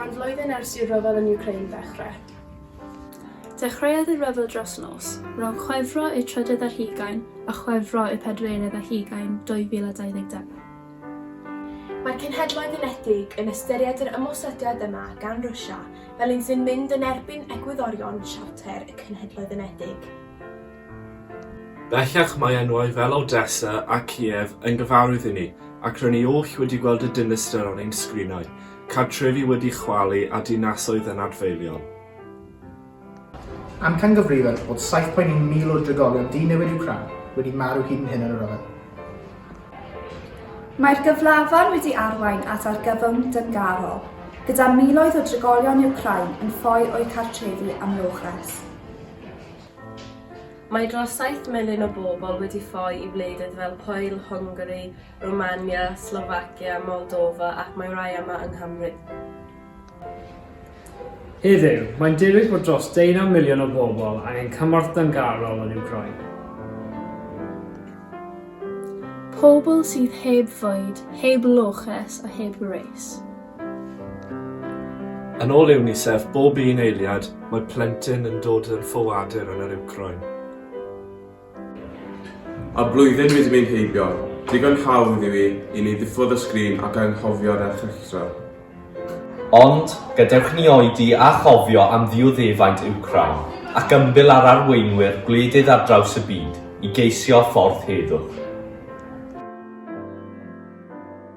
Mae'n flwyddyn ers i'r rhyfel yn Ukraine ddechrau. Dechreuodd y rhyfel dros nos, rhwng Chwefro y trydydd ar hugain a Chwefro y pedwerydd ar hugain 2022. Mae'r Cenhedloedd Unedig yn ystyried yr ymosodiad yma gan Rwsia fel un sy'n mynd yn erbyn egwyddorion Siarter y Cenhedloedd Unedig. Bellach mae enwau fel Odessa a Kiev yn gyfarwydd i ni, ac rŷn ni oll wedi gweld y dinistr ar ein sgrinau, cartrefi wedi chwalu a dinasoedd yn adfeilion. Amcangyfrifir bod 7.1,000 o'r drigolion di-newid i'w crau wedi marw hyd yn hyn yn y rhyfel. Mae'r gyflafan wedi arwain at argyfwng dyngarol, gyda miloedd o drigolion Wcráin yn ffoi o'u cartrefi am logres. Mae dros saith miliwn o bobl wedi ffoi i wledydd fel Pwyl, Hwngari, Rwmania, Slofacia, Moldofa ac mae rhai yma yng Nghymru. Heddiw, mae'n debyg bod dros deunaw miliwn o bobl angen cymorth dyngarol yn Wcráin. Pobl sydd heb fwyd, heb loches a heb wres. Yn ôl UNICEF, bob un eiliad, mae plentyn yn dod yn ffoadur yn yr Wcráin. A blwyddyn wedi mynd heibio. Digon hawdd yw hi i ni ddiffodd y sgrin ac anghofio'r erchylltra. Ond, gadewch i ni oedi a chofio am ddioddefaint Wcráin, ac ymbil â'r arweinwyr gwledydd ar draws y byd i geisio ffordd heddwch.